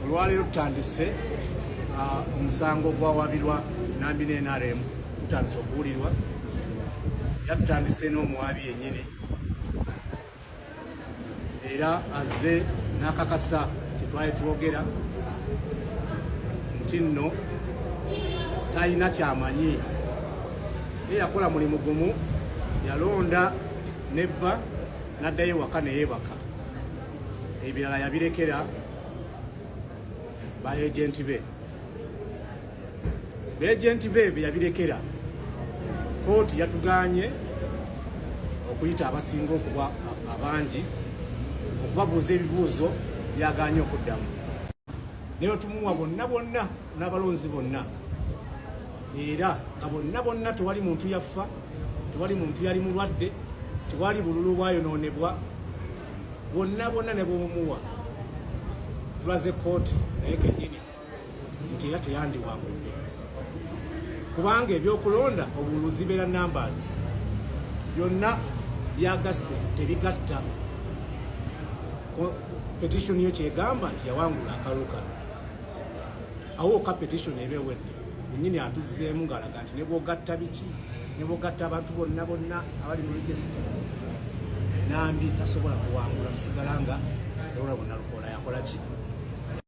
olwaleero tutandise uh, omusango ogwawabirwa nambi ne nrm tutandise okuwulirwa era tutandise n'omuwaabi yenyini era azze n'akakasa kyetwali twogera nti nno talina kyamanyi ye yakola mulimu gumu yalonda nebba n'addayo ewaka neyebaka ebirala yabirekera ba agenti be beagenti be bye yabirekera kooti yatuganye okuyita abasinga okuba abangi okubabuuza ebibuuzo byaganye okuddamu naye otumuwa bonna bonna n'abalonzi bonna era nga bonna bonna tewali muntu yaffa tewali muntu yali mulwadde tewali bululu bwayonoonebwa bwonna bwonna ne bwobumuwa tulaze kooti naye kenyini nti era teyandiwangudde kubanga ebyokulonda obulu zibeera numbers byonna byagasse tebigatta petition yo kyegamba nti yawangula akaluka awo ka petition eba ewedde Nyini atuzzeemu ng'alaga nti ne bw'ogatta biki ne bw'ogatta abantu bonna bonna abali mu rejisita Nambi tasobola kuwangula kusigala nga olwo bonna lukola yakola ki